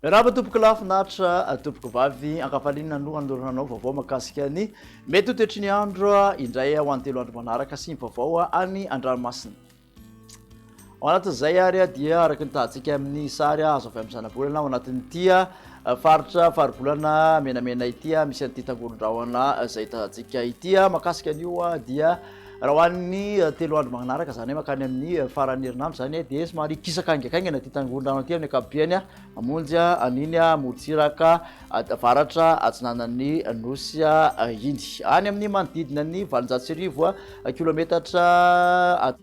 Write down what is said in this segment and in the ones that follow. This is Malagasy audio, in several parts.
Miarahaba tompoko lahy finaritra tompoko vavy ankafaliana no andoranao vaovao makasika ny mety ho toetry ny andro indray ho any telo andro manaraka sy ny vaovao any an-dranomasina. Ao anatin'izay ary dia araka ny tahantsika amin'ny sary azo avy amin'ny zanabolana ao anatin'ity faritra faribolana menamena ity misy an'ity tangoron-drahona izay tahantsika ity makasika an'io dia raha ho an'ny telo andro manaraka izany hoe makany amin'ny faran'ny herinandro izany dia somary kisaka haingakaingana ity tangoron-drahona ity amin'ny ankapobeny Mamonjy an'iny morontsiraka avaratra atsinanan'ny Nosy iny, any amin'ny manodidina ny valonjato sy arivo kilometatra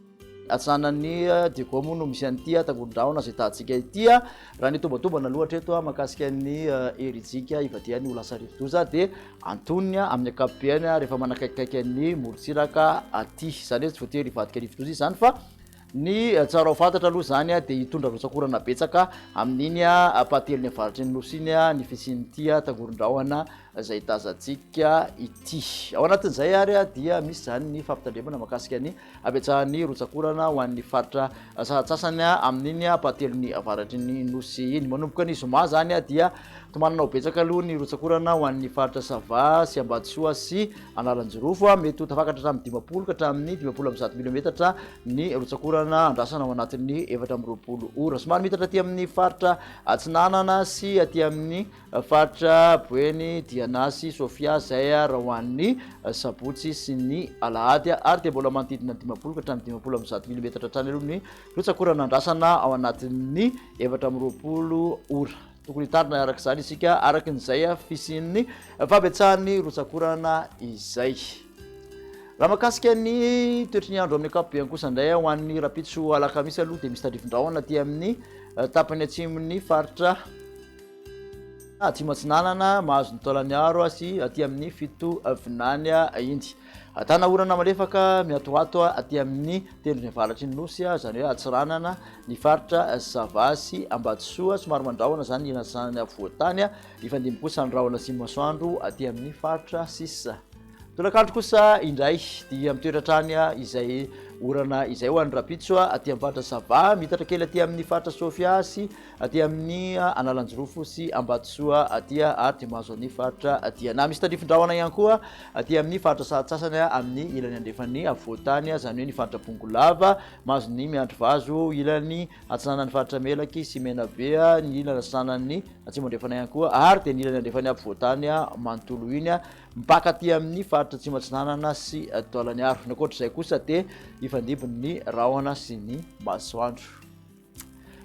atsinanan'i Diego moa no misy an'ity tangoron-drahona izay tahantsika ity. Raha ny tombatombana aloha hatreto mahakasika ny herijika ivadihany ho lasa rivodoza dia antonony amin'ny ankapobeny rehefa manakaikikaiky ny morontsiraka aty. Izany hoe tsy voatery hivadika rivodoza izany fa Ny tsara ho fantatra aloha izany dia hitondra rotsak'orana betsaka amin'iny ampahatelon'ny avaratry ny Nosy iny ny fisian'ity tangoron-drahona izay tazantsika ity. Ao anatin'izay ary dia misy izany ny fampitandremana mahakasika ny habetsahan'ny rotsak'orana ho an'ny faritra sasantsasany amin'iny ampahatelon'ny avaratry ny Nosy iny. Manomboka ny zoma izany dia tomanana ho betsaka aloha ny rotsak'orana ho an'ny faritra Sava sy Ambatosoa sy Analanjirofo, mety ho tafakatra hatramin'ny dimampolo ka hatramin'ny dimampolo amby zato milimetatra ny rotsak'orana andrasana ao anatin'ny efatra amby roapolo ora. Somary mitatra aty amin'ny faritra atsinanana sy aty amin'ny faritra Boeny, Diana sy Sofia izay raha ho an'ny sabotsy sy ny alahady ary dia mbola manodidina ny dimampolo ka hatramin'ny dimampolo amby zato milimetatra hatrany aloha ny rotsak'orana andrasana ao anatin'ny efatra amby roapolo ora. Tokony hitarina araka izany isika araka izay fisian'ny fahabetsahan'ny rotsak'orana izay. Raha makasika ny toetry ny andro amin'ny ankapobeny kosa indray ho an'ny rapitso alakamisy aloha dia misy tandrifin-drahona aty amin'ny eh, tapany atsimon'ny faritra atsimo atsinanana mahazo ny taolaniaro sy aty amin'ny fito vinany inty. Ahitana orana malefaka miatoato aty amin'ny tendrony avaratry ny Nosy, izany hoe atsiranana ny faritra Sava sy Ambatosoa. Somary mandrahona izany ny irasan'ny afovoan-tany, hifandimby kosa ny rahona sy ny masoandro aty amin'ny faritra sisa. Tolakandro kosa indray dia mitoetra hatrany izay orana izay ho an'ny rahampitso aty amin'ny faritra Sava, miitatra kely aty amin'ny faritra Sofia sy aty amin'ny Analanjirofo sy Ambatosoa aty ary dia mahazo an'ny faritra aty na misy tandrifin-drahona ihany koa aty amin'ny faritra sahatsasany amin'ny ilany andrefan'ny afovoan-tany izany hoe ny faritra Bongolava mahazo ny miandry vazo ilany atsinanan'ny faritra Melaky sy Menabe ny ilany atsinanan'ny atsimo andrefana ihany koa ary dia ny ilany andrefan'ny afovoan-tany manontolo iny mpaka aty amin'ny faritra atsimo atsinanana sy Taolagnaro ny ankoatra izay kosa dia ifandimby ny rahona sy ny masoandro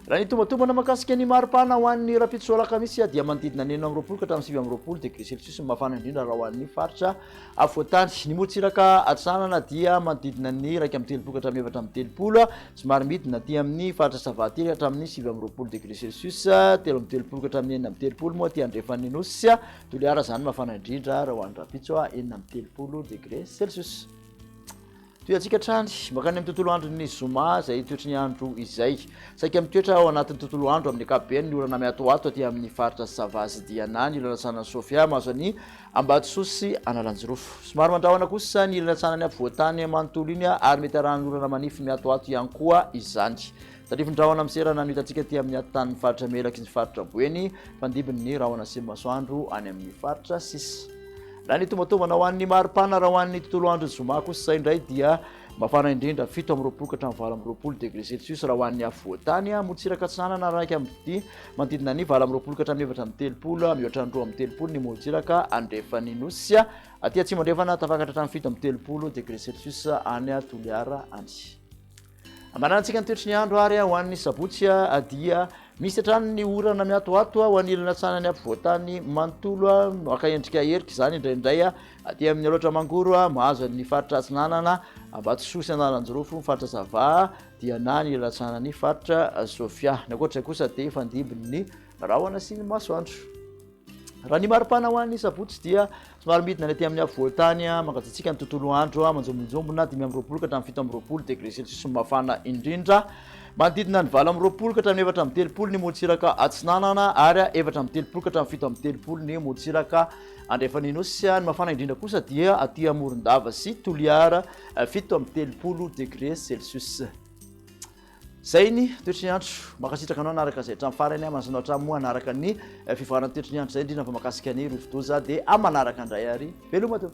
Raha ny tombantombana mahakasika ny mari-pana ho an'ny rahampitso alakamisy dia manodidina ny enina amby roapolo ka hatramin'ny sivy amby roapolo degré celsius ny mafana indrindra raha ho an'ny faritra afovoan-tany. Ny morontsiraka atsinanana dia manodidina ny iraika amby telopolo ka hatramin'ny efatra amby telopolo, somary midina aty amin'ny faritra Savaty ka hatramin'ny sivy amby roapolo degré celsius, telo amby telopolo ka hatramin'ny enina amby telopolo moa aty andrefan'ny Nosy Toliara izany mafana indrindra raha ho an'ny rahampitso, enina amby telopolo degré celsius. Tohiantsika hatrany mankany amin'ny tontolo andron'ny zoma izay toetry ny andro izay. Saika mitoetra ao anatin'ny tontolo andro amin'ny ankapobeny ny orana mihatohato aty amin'ny faritra Sava sy Diana ny ilany antsanan'i Sofia mahazo an'i Ambatosoa sy Analanjirofo. Somary mandrahona kosa ny ilany antsanan'ny afovoan-tany manontolo iny ary mety arahan'orana manify mihatohato ihany koa izany. Tarifin'ny rahona amin'ny seranano hitantsika aty amin'ny atintanin'ny faritra Melaky ny faritra Boeny, mpandimby ny rahona sy ny masoandro any amin'ny faritra sisa. Raha ny tombantombana ho an'ny maripana raha ho an'ny tontolo andron'ny zoma kosa izay indray dia mafana indrindra fito amby roapolo ka hatramin'ny valo amby roapolo degré celsius raha ho an'ny afovoantany morontsiraka atsinanana araka amin'ny manodidina ny valo amby roapolo ka hatramin'ny efatra amby telopolo mihoatra ny roa amby telopolo ny morontsiraka andrefan'ny nosy aty atsimo andrefana tafakatra hatramin'ny fito amby telopolo degré celsius any Toliara any Ambarantsika ny toetry ny andro ary ho an'ny sabotsy dia misy hatrany ny orana miatoato ho an'ny ilany atsanan'ny ampovoantany manontolo maka endrika herika izany indraindray aty amin'ny aloatra mangoro mahazo ny faritra atsinanana ambatosoa sy analanjirofo ny faritra zava dia na ny ilany atsanan'ny faritra sofia ny ankoatra izay kosa dia fandimby ny rahona sy ny masoandro Raha ny maripana ho an'ny sabotsy dia somary midina any aty amin'ny afovoan-tany mangatsiatsiaka ny tontolo andro, manjombonjombona dimy amby roapolo ka hatramin'ny fito amby roapolo degré celsius no mafana indrindra. Manodidina ny valo amby roapolo ka hatramin'ny efatra amby telopolo ny morontsiraka atsinanana ary efatra amby telopolo ka hatramin'ny fito amby telopolo ny morontsiraka andrefan'ny nosy. Ny mafana indrindra kosa dia aty Amorondava sy Toliara, fito amby telopolo degré celsius. Zay ny toetry ny andro. Mankasitraka anao anaraka izay hatramin'ny farany. Manasana hatramin'ny moa hanaraka ny eh, fivoaran'ny toetry ny andro izay indrindra fa makasika ny rovidoza dia amin'ny manaraka indray ary veloma teo.